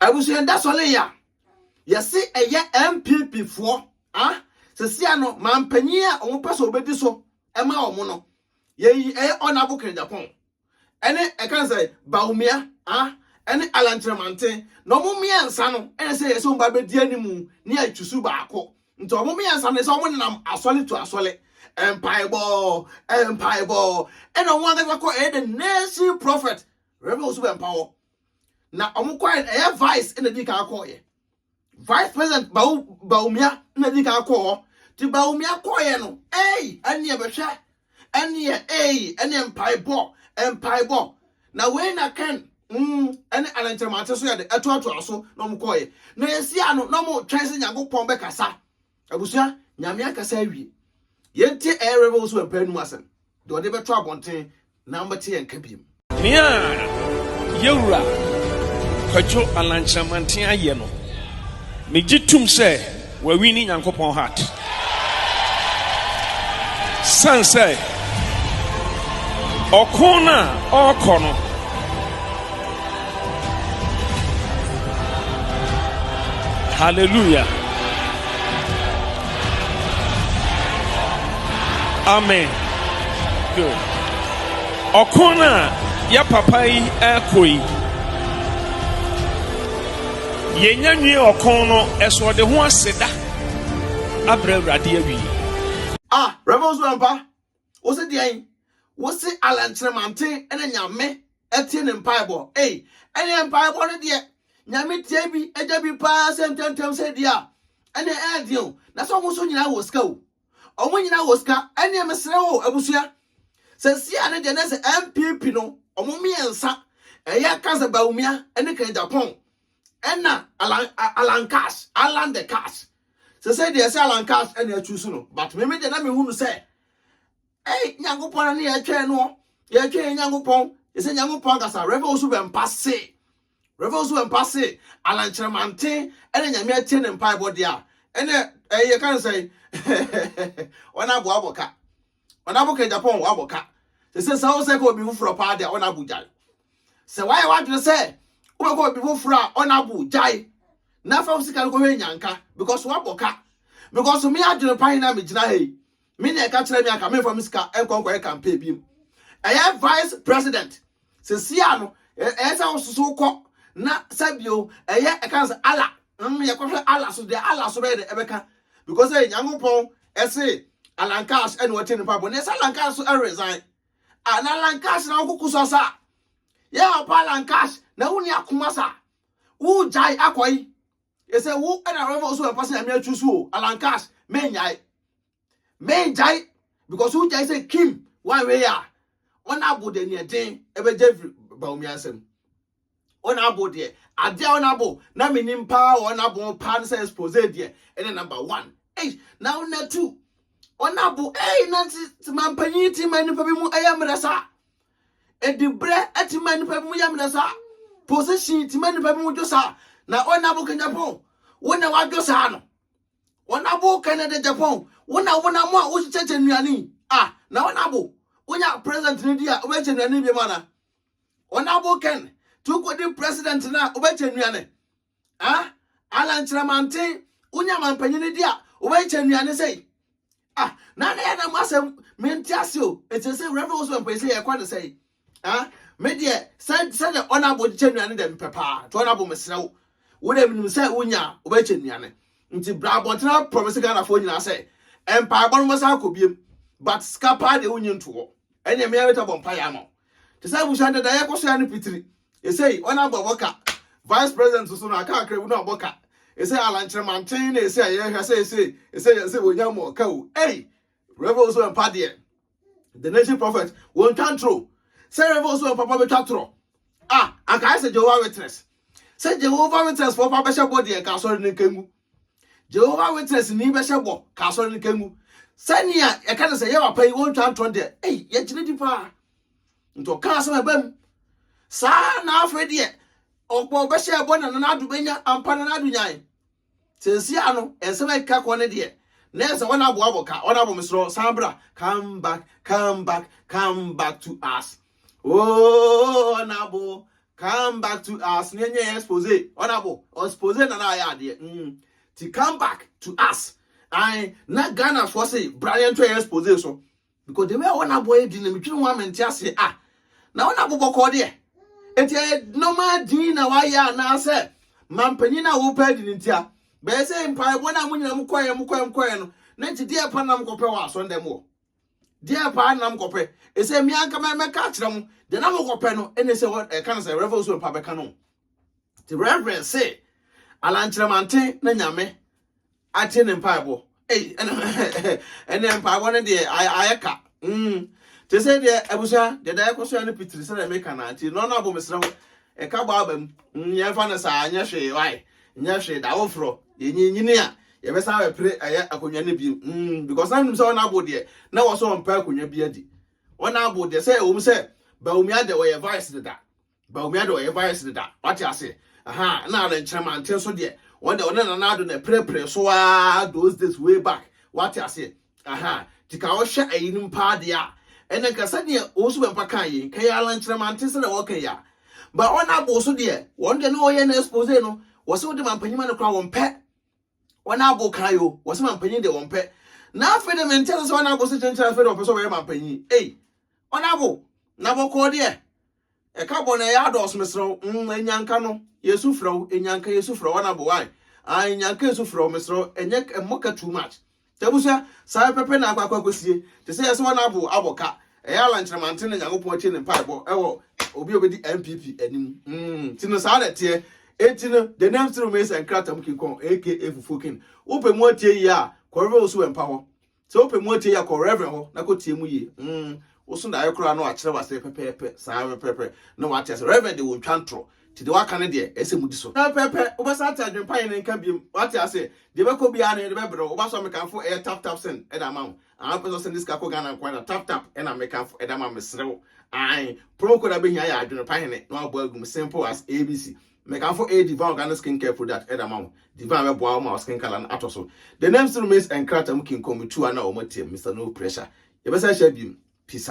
Abusua yɛda sɔre ya. Yɛse ɛyɛ NPP foɔ a sesia no manpanyin a wɔn pɛ sɛ wɔbɛdi so ɛma wɔn no. Yɛyi ɛyɛ Ɔnabo Kɛngyapɔn ɛne ɛkan sɛ Bawumia a ɛne Alan Kyerɛmanten na wɔn mmiɛnsa no ɛna sɛ yɛsɛ wɔn ba bɛdi animu ne atwisu baako. Nti wɔn mmiɛnsa no ɛsɛ wɔn nenam asɔre to asɔre mpaebɔ mpaebɔ ɛna wɔn ankasa kɔ ɛyɛ the nation prophet Reverend Osu Bɛmpawɔ na wɔn kɔɛ no ɛyɛ vice na di kan akɔɔ yɛ vice president bawo bawumia na di kan akɔɔ hɔ ti bawumia kɔɔ yɛ no ɛyi ɛneɛ bɛhwɛ ɛneɛ ɛyi ɛneɛ mpaebɔ mpaebɔ na wei na kɛn mm ɛne anantɛmante so yɛ de ɛtoatoa so na wɔn kɔɔ yɛ na esi ano na wɔn twɛn sɛ nyankopɔn bɛkasa. Abusua, Nyame akasa awie. Yɛntie Air Rebels wɔ mpaa num asɛm, deɛ ɔde bɛto abɔnten na mobɛte yɛn nka biom. Nea Yɛwura Kwadwo Alankyerɛmanten ayɛ no, megye tum sɛ wawini Nyankopɔn heart. Sane sɛ ɔko no a ɔɔkɔ no, Hallelujah. Amen. Good. Ɔko no a yɛ papa yi ɛkɔ yi, yɛnya nwie ɔko no ɛso ɔde ho aseda abrɛ awurade awie. Ah, Reverend Surampa, Wo se deɛn? Wo se Allan Kyerɛmanten na Nyame tie ne mpaebɔ? Ei, ɛneɛ mpaebɔ no deɛ Nyame tie bi, gya bi paa sɛ ntɛmntɛm sɛ deɛ a, ɛneɛ ɛɛdeɛn o? Na sɛ wɔn nso nyinaa wɔ sika o, wɔn nyinaa wɔ sika, ɛneɛ mesrɛ wo abusua, sɛ sia no deɛ na sɛ NPP no, wɔn mmiɛnsa, ɛyɛ Cancer Bawumia ne Kenneth Agyapong, ɛna Allan, Allan Cash, Allan the Cash, Sesei deɛ sɛ Allan Katz na ɛchuusu no but me me deɛ na mehu no sɛ ei Nyankopɔn na ne yɛtwɛn no yɛtwɛn yɛ Nyankopɔn yɛsɛ Nyankopɔn ankasa Rev. Osu Bɛmpa se Rev. Osu Bɛmpa se Allan Kyerɛmanten ɛna Nyame atie ne mpaebɔ deɛ a ɛnɛ ɛyɛ ka ne sɛ wɔn aboa abɔ ka Ɔna mo kɛ Japan wɔ abɔ ka. Sese sɛ wosɛ kɔ obi foforɔ paa deɛ ɔna bo gyae. Sɛ wayɛ wadwene sɛ wobɛkɔ obi foforɔ a ɔna bo gyae. Na fa wo sika no kɔhwɛ nyanka because wabɔ ka. Because me adwene pa he na megyina ha yi. Me na ɛka kyerɛ me anka memfa me sika nkɔ nkɔyɛ campaign biom. Ɛyɛ vice president Seesei ara no, ɛ, ɛyɛ sɛ wosusuw kɔ, na sɛ bio, ɛyɛ, ɛka no sɛ, Allah, mm, yɛkɔhwɛ Allah so deɛ, Allah so bɛyɛ dɛ, ɛbɛka. Because sɛ Nyankopɔn ɛse Alankash ɛne ɔte ne mpaebɔ, na sɛ Alankash so ɛresign, a, na Alankash na wokoko so asa a, yɛ help Alankash, na wonni akoma sa, wogyae akɔe, ɛsɛ wo ɛna wobɛma wo so ɛmfa sɛ Nyame atwu so o, Alankash, mennyae. mengyae because wogyae sɛ kim wanwe a ɔna abo deɛ neɛ den ɛbɛgya firi baomi asɛm ɔna abo deɛ adeɛ a ɔna abo na menim paa wɔ ɔna abo paa no sɛ expose deɛ ɛne number one ei na ɔna two ɔna abo ei na mampanyin ti ma nipa bi mu ɛyɛ mmerɛ saa ɛdibrɛ ɛti ma nipa bi mu yɛ mmerɛ saa position ti ma nipa bi mu dwo saa na ɔna abo kanyapɔn wo na wadwo saa no Wo na bo kɛ nɛ dɛ Japan wo na wo nam a wo kyɛkyɛ nnuane yi ah na wo na bo wo nya president no di a wo bɛ kyɛ nnuane bi mu ana wo na bo kɛn to ko di president na wo bɛ kyɛ nnuane ah Alan Kyerɛmanten wo nya mampanyini di a wo bɛ kyɛ nnuane sɛi ah na na yɛ na mo asɛm mente ase o ɛkyɛ sɛ Reverend Osman Pɛn sɛ yɛ kɔ ne sɛi Ah, me deɛ sɛ sɛ deɛ ɔnabo kyɛ nnuane dɛ mepɛ paa nti ɔnabo mesrɛ wo wo dɛ menim sɛ wonya a wobɛkyɛ nnuane nti bra abɔntene aprɔmese ghanafoɔ nyinaa sɛ mpaebɔ no mɔsa akɔ biem but sika paa deɛ wonyi nto hɔ ɛneɛ mea mɛtɔ bɔ mpaeɛ ama wo te sɛ abusua dada yɛkɔ so ya no pitiri ɛsei ɔnabo abɔ ka vice president so no aka akra bi no abɔ ka ɛsei alankyerɛ manten na ɛsei a yɛhwɛ sɛ ɛsei ɛsei ɛsei wɔnya mɔ ka o ei rɛbɛ wo so ɛmpa deɛ the nation prophet wɔn twa ntoro sɛ yɛrɛ bɛ wɔn papa bɛ twa torɔ a anka ayɛ sɛ jehovah witness sɛ jehovah witness fɔ papa bɛhyɛ bɔ deɛ ka asɔre ne nkangu jehovah witness ni bɛhyɛ bɔ ka asɔre ne nkangu sɛnea ɛka ne sɛ yɛ papa yi wɔn twa ntoro deɛ ɛyi yɛgyina di paa nti ɔka asɛm ɛbɛ mu saa na afei deɛ ɔbɔ bɛhyɛ ɛbɔ na nana ado bɛnya ampa nana ado nyae Sɛnsia no nsɛm a ɛkeka kɔ ne deɛ na ɛsɛ wɔn aboa bɔ ka, wɔn abɔ me sorɔ, san bra, come back, come back, come back to us. Oh, wɔn abo, come back to us, ne ɛnyɛ expose, wɔn abo, expose na na ayɛ adeɛ. Mm. Ti come back to us. Ae, na Ghanafoɔ se, bra yɛn to expose so. Because the way a ɔna boy din no metwene ho a mente aseɛ ah na ɔna bo bɔkɔɔ deɛ ɛti ɛyɛ normal din na wayɛ anaasɛ mampanyin na wopɛ adi ne ntia bɛyɛ sɛ mpaebɔ no a mo nyina mokɔɛ mokɔɛ mokɔɛ no na nti deɛ pa nam kɔpɛ wɔ asɔndɛ mu wɔ deɛ pa nam kɔpɛ ɛsɛ me anka mɛka akyerɛ mo deɛ na mokɔpɛ no ɛne sɛ ɛka no sɛ reverend osuo mpa bɛka no nti reverend se alankyerɛmanten na nyame Atie ne mpaebɔ ei ɛnɛ mpaebɔ no deɛ ayɛ ka mm. Te sɛ deɛ abusua deɛ da ɛkɔ so yɛ no pitiri sɛdeɛ meka no nti no no abo mesrɛ wo ɛka bɔ aba mu mm, yɛmfa no saa nyɛ hwee wae nyɛ hwee da woforɔ yɛnyinyini a yɛbɛsan bɛpere ɛyɛ akonnwa no bi mm, because na nim sɛ wɔn abo deɛ na wɔ so ɔmpa akonnwa bi adi wɔn abo deɛ sɛ ɛwɔ mu sɛ Bawumia deɛ wɔyɛ vice deda Bawumia de ɔyɛ virus deda wate ase aha na na nkyerɛma nte nso deɛ wɔn deɛ ɔne nana ado na ɛpirepire so aa those days way back wate ase aha tika ɔhwɛ ayinom paa deɛ a ɛnna nka sɛdeɛ wɔn so bɛmpa kan yi nka yɛ ala nkyerɛma nte sɛdeɛ wɔka yi a ba wɔn abo so deɛ wɔn deɛ ne wɔyɛ na expose no wɔsɛ wɔde ma mpanyinma no kora wɔn pɛ wɔn abo kan yi o wɔsɛ ma mpanyin deɛ wɔn pɛ na afei deɛ mente sɛ wɔn abo so kyenkyere afei deɛ wɔpɛ sɛ wɔyɛ ma mpanyin ei wɔn abo na bɔkɔɔ deɛ Ɛka bɔ na ɛyɛ adɔɔso mesrɛ wo mm Anyanka no yɛsu frɛ wo Anyanka yɛsu frɛ wo Wana bo why ah Anyanka yɛsu frɛ wo mesrɛ wo Ɛnyɛ ɛmmɔ ka too much Nti abusua saa ara pɛpɛ na akɔ akɔ akɔsie Te sɛ yɛsɛ Wana bo abɔ ka Ɛyɛ Allan Kyeremante na Nyankopɔn atie ne mpaebɔ ɛwɔ obi a ɔbɛdi NPP anim mm Nti no saa na ɛteɛ Enti no the name still remains Nkratam King Kong aka Fufuo King Wopɛ mu atie yie a kɔ River Osuwɛmpa hɔ Sɛ wopɛ mu atie yɛ kɔ reverend hɔ na kɔtie mu yie mm woso daeɛ koraa na wakyerɛ wase pɛpɛɛpɛ saa pɛpɛɛpɛ na wate ase reverend de wɔntwa ntorɔ nti deɛ waka no deɛ ɛsɛ mudi so pɛpɛɛpɛ wobɛsa ate adwempa yɛ ne nka biom wate ase deɛ bɛkɔ biara no yɛde bɛbrɛ wo woba so a mekamfo ɛyɛ tap tap send ɛda ama wo aa wopɛ sɛ ɔsɛn de sika kɔ Ghana nko ara tap tap ɛna mekamfo ɛda ama mesrɛ wo ae promo code a bɛhia yɛ adwene pa hene na wabɔ agum simple as ABC Mekamfo A. Divine Organic Skin Care Product de ama wo. Divine bɛboa wo ma wo skin color no atɔ so. The name still remains nkrataa mu kinkom two a na wɔateam, Mr. No Pressure. Yɛbɛsan ahyia bio. Peace out.